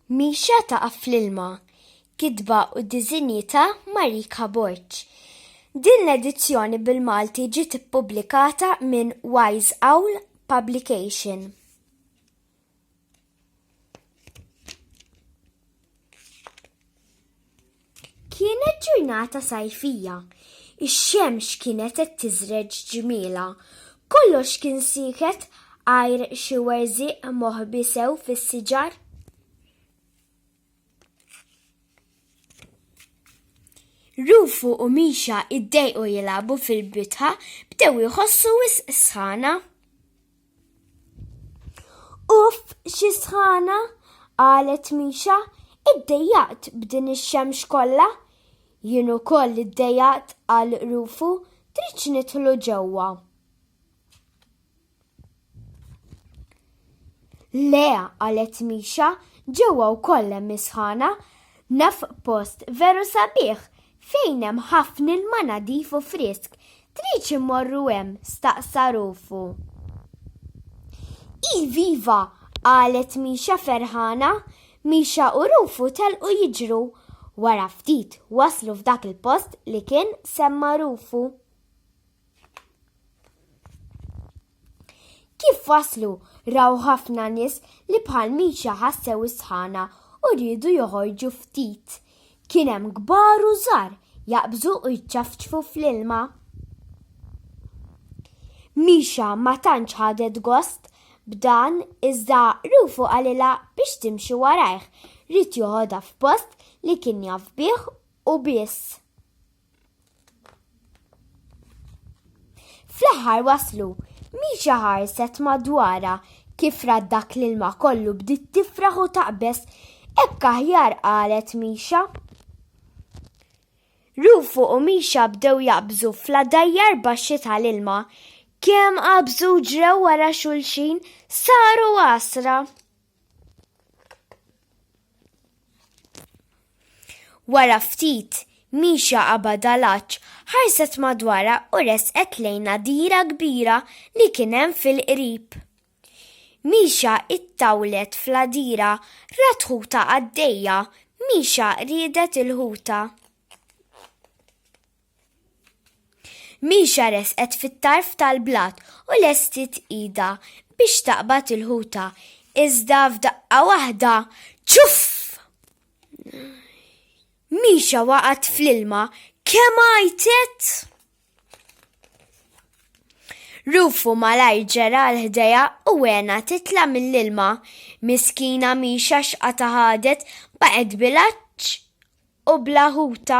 Mixja taqa' fl-ilma, kitba u diżinji ta' Marika Borg. Din l-edizzjoni bil-Malti ġiet ippubblikata minn Wise Owl Publication. Kienet ġurnata sajfija, ix-xemx kienet qed tiżreġ ġmielha. Kollox kien sieket għajr xi werżieq moħbi sew fis-siġar. Rufu u Misha iddejqu jilagħbu fil-bitħa bdew iħossu wisq sħana. Uff, xi sħana, qalet Misha, iddejjaqt b'din ix-xemx kollha. Jien ukoll iddejjaqt qal Rufu, tridx nidħlu ġewwa. Le, qalet Misha, ġewwa wkoll hemm is-sħana. Naf post veru sabiħ, Fejn hemm ħafna ilma nadif u frisk, tridx immorru hemm? staqsa Rufu. Iv iva, qalet Misha ferħana. Misha u Rufu telqu jiġru. Wara ftit waslu f'dak il-post li kien semma Rufu. Kif waslu raw ħafna nies li bħal miċa ħassew is-sħana u rridu joħorġu ftit. Kien hemm kbar u żgħar jaqbżu u jċafċfu fl-ilma. Mixa ma tantx ħadet gost b'dan iżda rufu għalila biex timxi warajh, rrid joħodha f'post li kien jaf bih u biss. Fl-aħħar waslu, Misha ħarset madwara kif rad dak l-ilma kollu bdiet tifraħ u taqbeż. Hekk aħjar qalet Misha. Rufu u Misha bdew jaqbżu fl-għadajjar baxxi tal-ilma. Kemm qabżu ġrew wara xulxin saru għasra. Wara ftit, Misha Abadalaċ ħarset madwara u resqet lejn nadira kbira li kien hemm fil-qrib. Misha ittawlet fl-għadira rat ħuta għaddejja, Misha riedet il-ħuta. Misha resqet fit-tarf tal-blat u lestiet idha biex taqbad il-ħuta, iżda f'daqqa waħda, ċuff! Misha waqgħet fl-ilma kemm għajtet! Rufu malajr ġera 'l ħdejha u għenha titla' mill-ilma. Miskina Misha x'qatgħa ħadet, baqgħet bil-għatx u bla ħuta.